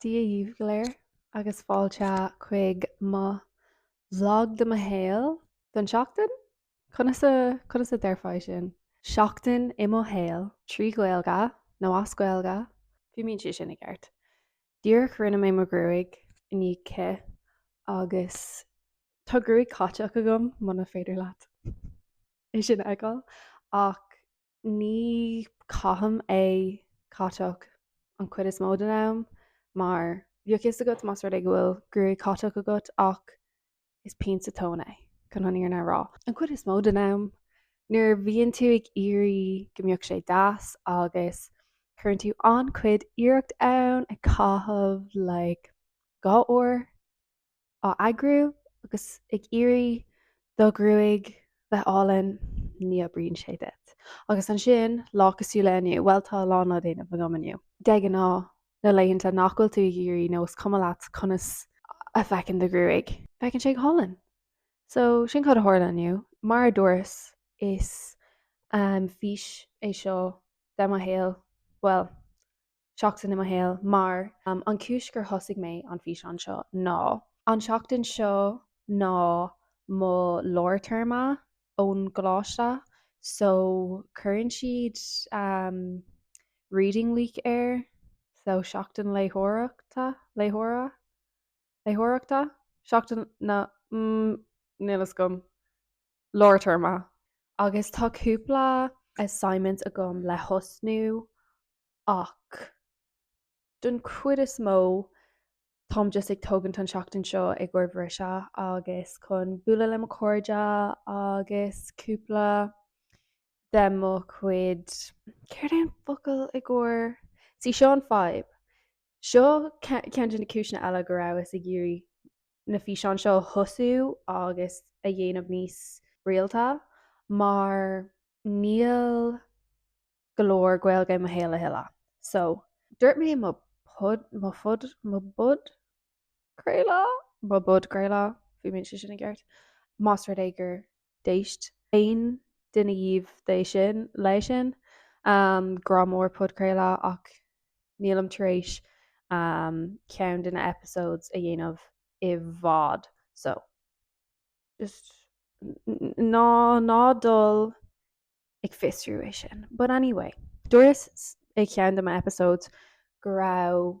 Dia dhaoibh go léir agus fáilte chuig mo vlog de mo shaol don seachtain? Conas a, conas a déarfai sin? Seachtain i mo shaol, trí Ghaeilge nó as Gaeilge, fiú má bhíonn sé sin i gceart. Díreach rinne mé mo ghruaig i ndiaidh cith agus tá gruaig catach agam, muna féidir leat é sin a fheiceáil, ach Ní chaithim é catach an chuid is mó den am mar bheadh a fhios agat más rud é go bhfuil gruaig catach agat ach is pian sa tóin é, chun an fhírinne a rá. An chuid is mó den am nuair a bhíonn tú ag iarraidh go mbeadh sé deas agus cuireann tú an-chuid iarracht ann ag caitheamh like dhá uair á eagrú agus ag iarraidh do ghruaig a bheith álainn, ní oibríonn sé duit. Agus ansin, lá cosúil le inniu, bhuel, tá a lán le déanamh agam inniu. De ghnáth, na laethanta nach bhfuil tú ag iarraidh nó is cuma leat conas a feiceann do ghruaig, feiceann sé go hálainn. So, sin cad a tharla inniu. Mar a dúras, is fís é seo de mo shaol, bhuel, seachtain i mo shaol mar an cúis gur thosaigh mé an físeán seo ná an seachtain seo ná mo lár téarma ón gcoláiste so cuireann siad ehm reading week air so seachtain léitheoireachta léitheora léitheoireachta seachtain na mm níl a fhios agam. lár-téarma, agus tá cúpla assignment agam le thosnú ach don chuid is mó táim just ag tógaint an seachtain seo i gcomhair briseadh agus chun bualadh le mo cairde agus cúpla de mo chuid céard é an focal i gcomhair? see seo an fadhb Seo ceann de na cúiseanna eile go rabhas ag iarraidh na físeáin seo a thosú agus a dhéanamh níos rialta mar níl go leor Gaeilge i mo shaol a thuilleadh. So, dúirt mé mo pod, mo fod, mo podchraoladh? mo podchraoladh, má bhíonn sé sin i gceart, más rud é gur d'éist aon duine dhíobh de sin, leis sin. Grá mór podchraoladh ach nílim tar éis ceann de na episodes a dhéanamh i bhfad, so just ná ná dul ag fiosrú é sin. But anyway, dúras i ceann de na episodes go raibh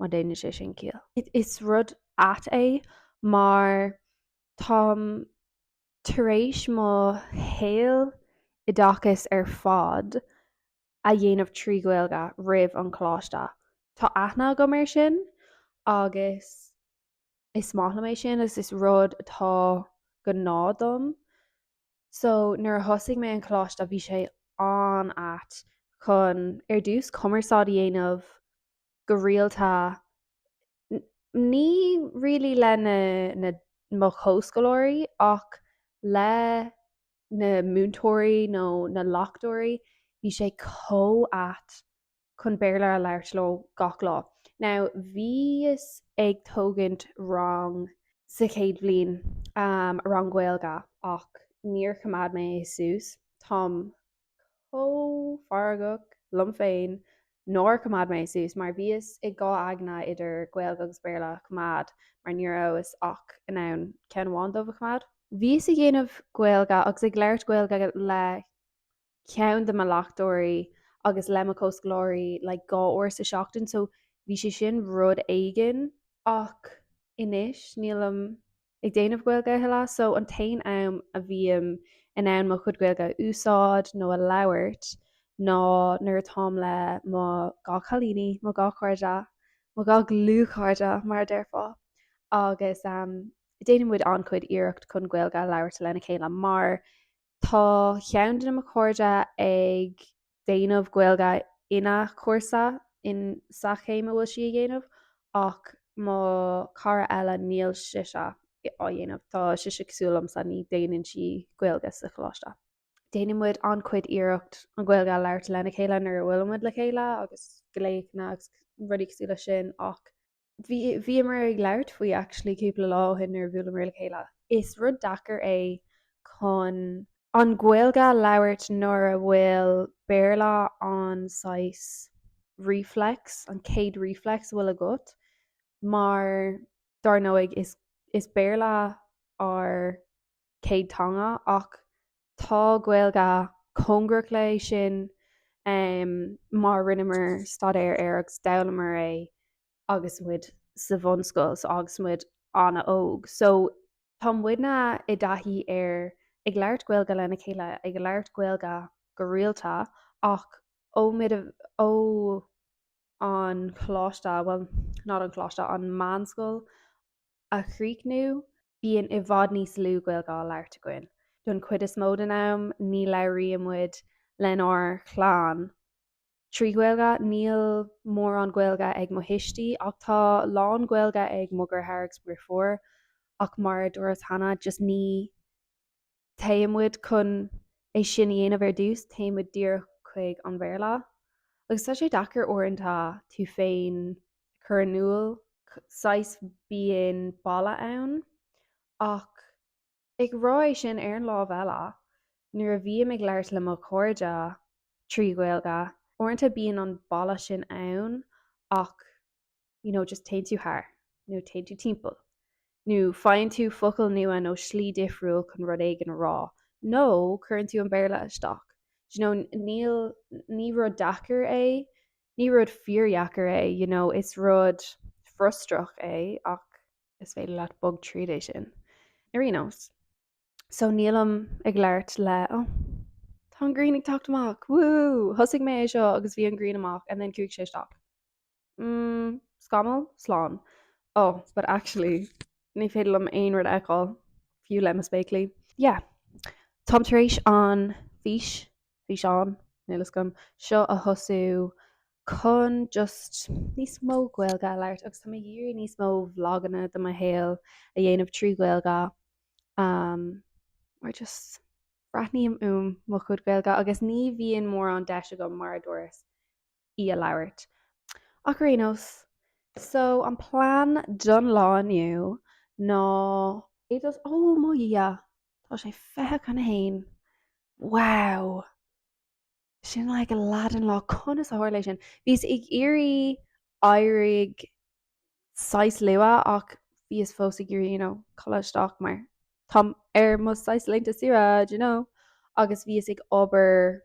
má deineann sé sin ciall. Is rud ait é mar táim tar éis mo shaol oideachais ar fad a dhéanamh trí Ghaeilge roimh an choláiste. Tá aithne agam air sin agus is maith liom é sin agus is rud atá gnáth dom So nuair a thosaigh mé an coláiste bhí sé an-ait chun ar dtús cumarsáid a dhéanamh go rialta ní really le na mo chomhscoláirí ach le na múinteoirí nó na leachtóirí bhí sé chomh ait chun Béarla a labhairt leo gach lá. Now bhíos ag tógaint rang sa chéad bhliain, rang Gaeilge, ach níor choimeád mé é suas. Táim chomh feargach liom féin nár choimeád mé é suas mar bhíos i dhá aigne idir Gaeilge agus Béarla a choimeád mar ní rabhas ach in ann ceann amháin díobh a choimeád. Bhíos ag déanamh Gaeilge agus ag labhairt Gaeilge le ceann de mo leachtóirí agus le mo chomhscoláirí like dhá uair sa seachtain so bhí sé sin rud éigin ach anois nílim ag déanamh Gaeilge a thuilleadh so an t-aon am a bhím in ann mo chuid Gaeilge a úsáid nó a labhairt ná nuair atáim le mo dhá chailíní, mo dhá chairde, mo dhá dhlúthchairde mar a déarfá agus ehm déanann muid an-chuid iarracht chun Gaeilge a labhairt lena chéile mar Tá ceann de mo chairde ag déanamh Gaeilge ina cúrsa insa chéim a bhfuil sí a dhéanamh ach mo cara eile níl sise á dhéanamh. Tá sise cosúil liomsa, ní déanann sí Gaeilge sa choláiste. Déanann muid an-chuid iarracht an Ghaeilge a labhairt lena chéile nuair a bhfuilimid le chéile agus glaochanna agus rudaí cosúil leis sin ach. bhíomar ag labhairt faoi actually cúpla lá ó shin nuair a bhuaileamar le chéile. Is rud deacair é chun an Ghaeilge a labhairt nuair a bhfuil Béarla an saghas reflex, an céad reflex a bhfuil agat, mar dar ndóigh is Béarla ár. céad teanga ach tá Gaeilge cóngarach leis sin mar rinneamar staidéar air agus d'fhoghlaimíomar é agus muid sa bhunscoil so agus muid an-óg. So tá muidne i dtaithí ar ag labhairt Gaeilge lena chéile, ag labhairt Gaeilge go rialta ach ó ó an choláiste, bhuel not an choláiste, an meánscoil a chríochnú, Bíonn i bhfad níos lú Gaeilge á labhairt againn. Don chuid is mó don am, ní labhraíonn muid lenár chlann trí Ghaeilge. Níl mórán Gaeilge ag mo thuistí, ach tá lán-Ghaeilge ag mo dheartháir agus mo dheirfiúr. Ach mar a dúras cheana, just ní. téann muid chun é sin a dhéanamh ar dtús, téann muid díreach chuig an Béarla agus tá sé deacair uaireanta tú féin a chur in iúl, saghas bíonn balla ann ach ag rá é sin ar an lámh eile nuair a bhím ag labhairt le mo chairde trí Ghaeilge, uaireanta bíonn an balla sin ann ach you know, just téann tú thar, nó téann tú timpeall, nó faigheann tú focal nua nó slí difriúil chun rud éigin a rá, nó cuireann tú an Béarla isteach. Do you know, níl, ní rud deacair é, ní rud fíordheacair é, you know, is rud frustrach é ach is féidir leat bogadh tríd é sin ar aon nós. So nílim ag labhairt le, oh, tá an ghrian ag teacht amach, woo, thosaigh mé é seo agus bhí an ghrian amach and then chuaigh sé isteach. mm, scamall, slán, oh, but actually, ní féidir liom aon rud a fheiceáil, fiú le mo spéaclaí. Yeah. Táim tar éis an fís, físeán, níl fhios agam, seo a thosú chun just níos mó Gaeilge a labhairt agus tá mé ag iarraidh níos mó vloganna de mo shaol a dhéanamh trí Ghaeilge um, mar just braithním uaim mo chuid Gaeilge agus ní bhíonn mórán deis agam mar a dúras í a labhairt. Ach ar aon nós, so an plean don lá inniu ná. Ar dtús, ó mo Dhia! Tá sé fiche chun a haon. Wow! Sin leath den lá, conas a tharla é sin? Bhíos ag iarraidh éirí saghas luath ach bhíos fós ag iarraidh you know codladh isteach mar táim ar mo saghas laethanta saoire d'you know agus bhíos ag obair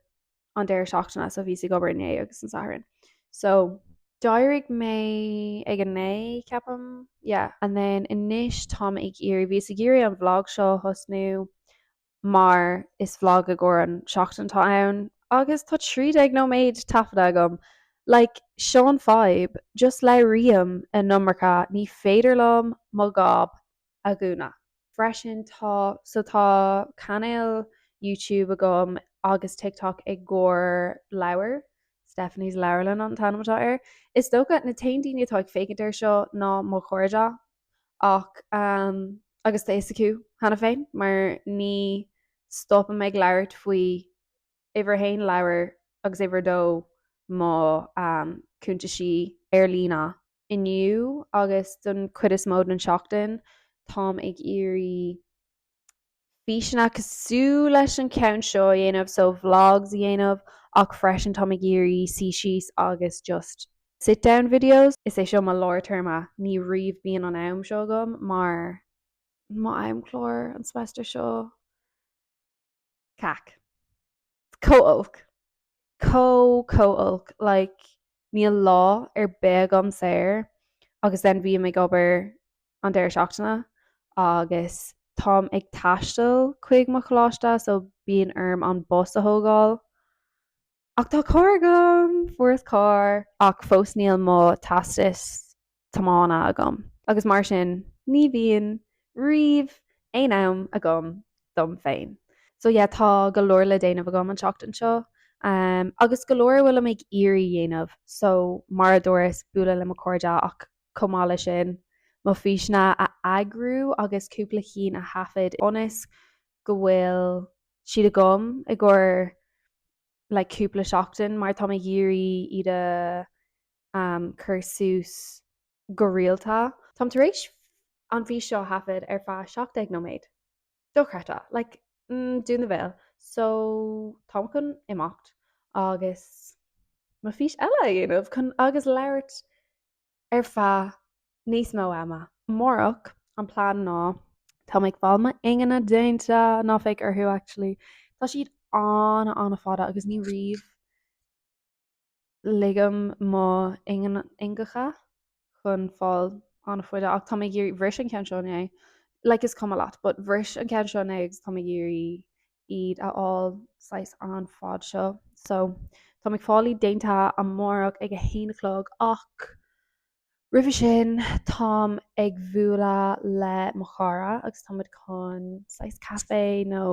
an deireadh seachtaine so bhíos ag obair inné agus an Satharn. So d'éirigh mé ag an naoi ceapam yeah. And then anois táim ag iarraidh bhíos ag iarraidh an bhlag seo a thosnú mar is bhlag i gcomhair an seachtain atá ann agus tá trí déag nóiméad taifeadta agam. Like seo an fadhb, just labhraím an iomarca, ní féidir liom mo ghob a dhúnadh. Freisin tá so tá cainéal YouTube agam agus TikTok i gcomhair leabhair, Stephanie's Leabharlann an t-ainm atá air. Is dócha, na t-aon daoine atá ag féachaint ar seo ná mo chairde ach ehm agus tá fhios acu cheana féin mar ní stopaim ag labhairt faoi uimhir a haon leabhair agus uimhir a dó mo ehm cuntaisí ar líne. inniu agus don chuid is mó den seachtain táim ag iarraidh físeanna cosúil leis an ceann seo a dhéanamh so vlogs a dhéanamh ach freisin táim ag iarraidh suí síos agus just sit down videos. Is é seo mo lár téarma, ní riamh bíonn an am seo agam mar mo am-chlár an semester seo. cac. Chomh holc. Chomh chomh holc like níl lá ar bith agam saor agus then bhím ag obair an deireadh seachtaine agus táim ag taisteal chuig mo choláiste so bíonn orm an bus a thógáil Ach tá carr agam! Fuaireas carr ach fós níl mo teastas tiomána agam agus mar sin ní bhíonn riamh aon am agam dom féin. So yeah tá go leor le déanamh agam an tseachtain seo agus go leor a bhfuilim ag iarraidh dhéanamh so mar a dúras bualadh le mo cairde ach chomh maith le sin mo físeanna a eagrú agus cúpla chinn a thaifead ionas go bhfuil siad agam i gcomhair like cúpla seachtain mar tá mé ag iarraidh iad a cur suas go rialta. Táim tar éis an fís seo a thaifead ar feadh 17 nóiméad. Dochreidte. Like mm dún do bhéal. So táim chun imeacht agus mo fís eile a dhéanamh chun agus labhairt ar feadh níos mó ama. Amárach, an plean ná, tá mé ag fáil m'ingne déanta, ná féach orthu actually, tá siad an-, an-fhada agus ní riamh ligim mo ingneacha chun fáil an-fhada ach tá mé ag iarraidh, bhris an ceann seo inné, like is cuma leat, but bhris an ceann seo inné agus tá mé ag iarraidh iad a fháil saghas an fad seo so táim ag fáil iad déanta amárach ag a haon a chlog ach roimhe sin táim ag bualadh le mo chara agus tá muid chun saghas caife nó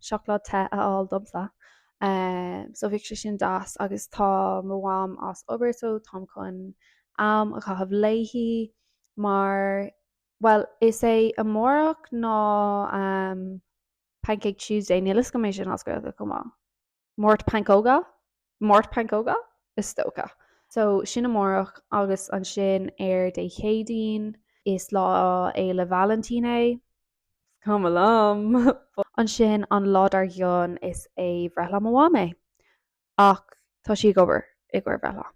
seacláid te a fháil domsa so bheadh sé sin deas agus tá mo mham as obair so táim chun am a chaitheamh léi mar Bhuel, is é amárach ná Pancake Tuesday, níl 'fhios agam cad é sin as Gaeilge chomh maith. Máirt Pancóga? Máirt Pancóga? Is dócha. So, sin amárach agus ansin ar Dé Céadaoin, is Lá Fhéile Vailintín é. Is cuma liom! Ansin, an lá dár gcionn, is é breithlá mo mham é. Ach tá sí ag obair i gcomhair bhreithlá.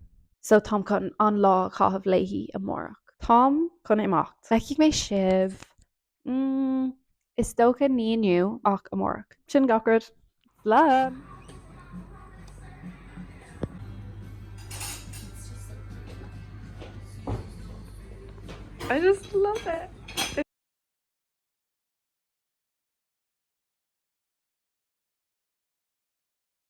So táim chun an lá a chaitheamh léi amárach. Táim chun imeacht. Feicfidh mé sibh, mm, is dócha ní inniu ach amárach. Sin gach rud. Slán! I just love it.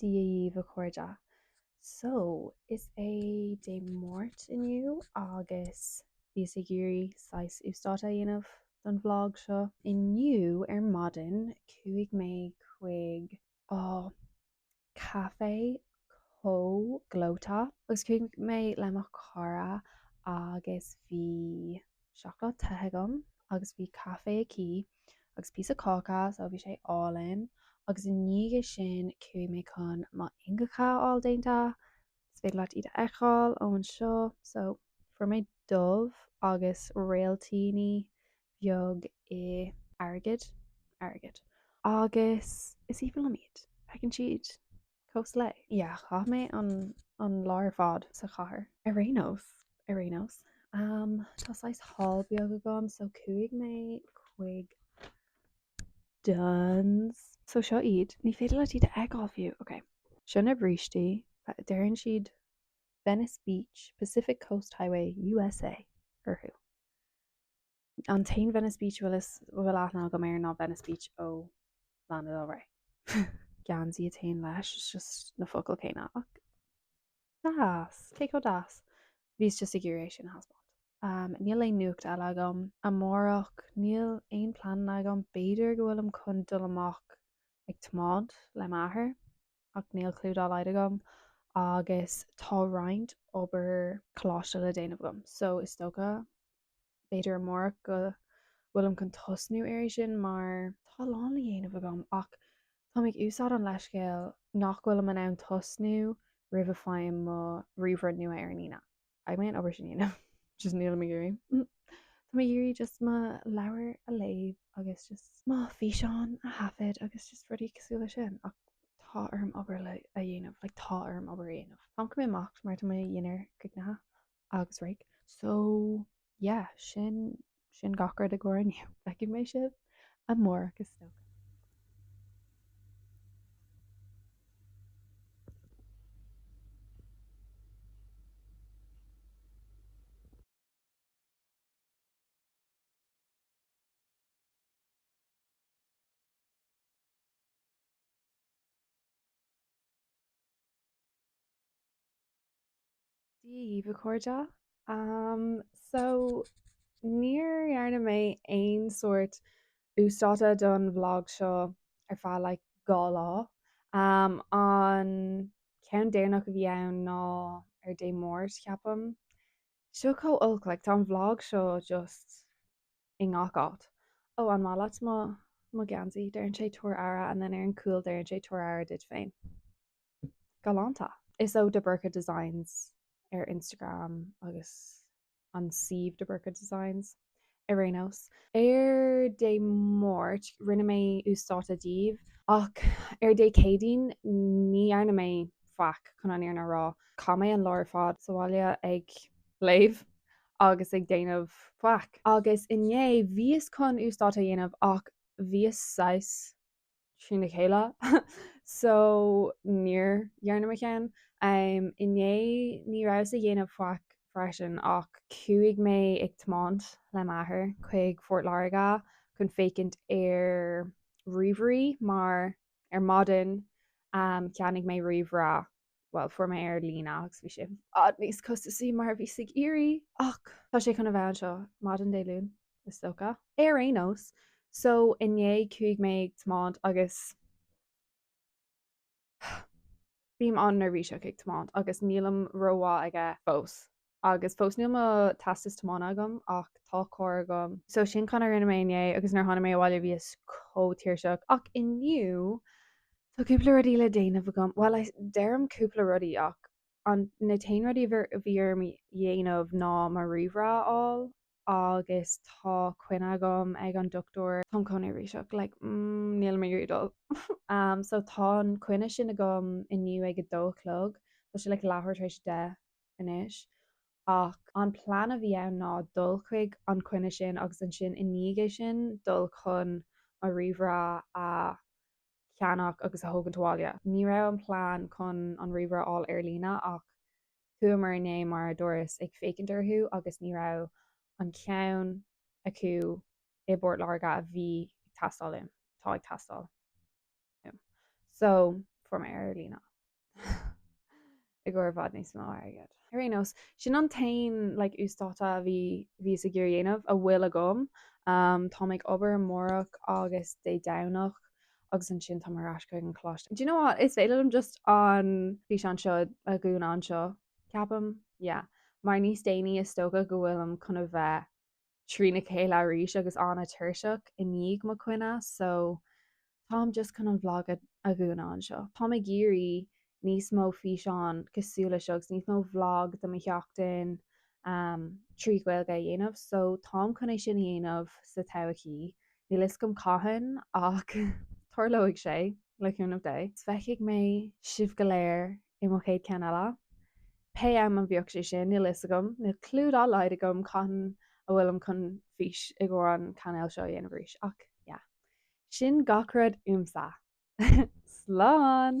Dia dhíbh, a chairde. So, is é Dé Máirt inniu agus bhíos ag iarraidh saghas uasdátú a dhéanamh don vlog seo. Inniu ar maidin chuaigh mé chuig, á, caifé chomh gleoite agus chuaigh mé le mo chara agus bhí seacláid te agam agus bhí caife aici agus píosa cáca so bhí sé álainn agus i ndiaidh é sin chuaigh mé chun mo ingeacha a fháil déanta is féidir leat iad a fheiceáil ó anseo so fuair mé dubh agus réiltíní bheag i airgead airgead agus is aoibhinn liom iad feiceann siad cosúil le. yeah chaith mé an an lá ar fad sa chathair. Ar aon nós, ar aon nós, am, tá saghas haul beag agam, so chuaigh mé chuig Dunnes. So seo iad, ní féidir leat iad a fheiceáil fiú, ok. Sin na brístí, deireann siad Venice Beach, Pacific Coast Highway, U.S.A. orthu. An t-aon Venice Beach a bhfuil aithne agam air ná Venice Beach ó Lana Del Rey. geansaí a téann leis it's just na focail céanna ach deas! Cé chomh deas? Bhíos just ag iarraidh é sin a thaispeáint. Umm, níl aon nuacht eile agam. Amárach, níl aon pleananna agam, b'fhéidir go bhfuilim chun dul amach ag tiomáint le m'athair ach níl cliú dá laghad agam agus tá roinnt obair coláiste le déanamh agam so is dócha b'fhéidir amárach go bhfuilim chun tosnú ar é sin mar. tá a lán le dhéanamh agam ach táim ag úsáid an leithscéil nach bhfuilim in ann tosnú roimh a faighim mo ríomhaire nua ar an Aoine. Beidh mé in ann obair sin a dhéanamh. just nílim ag iarraidh. Táim ag iarraidh just mo leabhar a léamh agus just. mo físeán a thaifead agus just rudaí cosúil leis sin ach tá orm obair a dhéanamh, like tá orm obair a dhéanamh. Táim caithfidh mé imeacht mar tá mo dhinnéar críochnaithe. agus raic. So yeah, sin, sin gach rud i gcóir inniu. Feicfidh mé sibh amárach is dócha. Dia dhaoibh a chairde. Am so níor dhearna mé aon sórt uasdáta don vlog seo ar feadh like dhá lá. Am an ceann deireanach a bhí ann ná ar Dé Máirt ceapaim. Seo chomh olc like tá an vlog seo just i ngach áit. Ó an maith leat mo mo geansaí, deirann sé tabhair aire and then ar an cúl deirann sé tabhair aire duit féin. galánta. Is ó De Burca Designs ar Instagram agus an suíomh De Burca Designs ar aon nós. Ar Dé Máirt rinne mé uasdáta daoibh ach ar Dé Céadaoin ní dhearna mé faic, chun an fhírinne a rá. Chaith mé an lá ar fad sa bhaile ag léamh agus ag déanamh faic. Agus inné bhíos chun uasdáta a dhéanamh ach bhíos saghas trína chéile so níor dhearna mé ceann. Um, inné ní rabhas ag déanamh faic freisin ach chuaigh mé ag tiomáint le m'athair chuig Phort Láirge chun féachaint ar ríomhairí mar ar maidin um, cheannaigh mé ríomhaire bhuel, fuair mé é ar líne agus bhí sé i bhfad níos costasaí mar a bhíos ag iarraidh ach tá sé chun a bheith anseo maidin Dé Luain, is dócha, ar aon nós. So, inné chuaigh mé ag tiomáint agus bím an-neirbhíseach ag tiomáint agus nílim ró-mhaith aige fós. Agus fós níl mo teastas tiomána agam ach tá carr agam. So sin an rud a rinne mé inné agus nuair a tháinig mé abhaile bhíos comh tuirseach. Ach inniu tá cúpla rudaí le déanamh agam. Bhuel deirim cúpla rudaí ach an na t-aon rudaí a bhí orm a dhéanamh ná mo ríomhaire a fháil agus tá coinne agam ag an dochtúir. Táim chomh neirbhíseach like níl mé ag iarraidh dul so tá an coinne sin agam inniu ag a dó a chlog. Tá sé like leathuair tar éis a deich anois ach an plean a bhí ann ná dul chuig an choinne sin agus ansin i ndiaidh é sin dul chun mo ríomhaire a cheannach agus a thógaint abhaile. Ní raibh an plean chun an ríomhaire a fháil ar líne ach chuamar inné mar a dúras ag féachaint orthu agus ní raibh an ceann acu i bPort Láirge a bhí ag teastáil uaim, atá ag teastáil uaim. So fuair mé é ar líne. i gcomhair i bhfad níos mó airgid. Ar aon nós, sin an t-aon like, uasdátú a bhí bhíos ag iarraidh a dhéanamh, a bhfuil agam. Um, táim ag obair amárach agus Dé Domhnach agus ansin táim ar ais chuig an gcoláiste. Do you know what, is féidir liom just an físeán seo a dhúnadh anseo, ceapaim? Yeah. Mar níos déanaí is dócha go bhfuilim chun a bheith trína chéile arís agus an-tuirseach i ndiaidh mo choinne, so táim just chun an bhlag a dhúnadh anseo. Táim ag iarraidh níos mó físeán cosúil le seo agus níos mó bhlag do mo sheachtain trí Ghaeilge a dhéanamh so táim chun é sin a dhéanamh sa todhchaí. Níl fhios agam cathain ach tarlóidh sé, le cúnamh Dé. Feicfidh mé sibh go léir i mo chéad ceann eile. Pé am a bheidh sé sin, níl fhios agam, ná clue dá laghad agam cathain a bhfuilim chun fís i gcomhair an cainéil seo a dhéanamh arís ach yeah. Sin gach rud uaimse. Slán!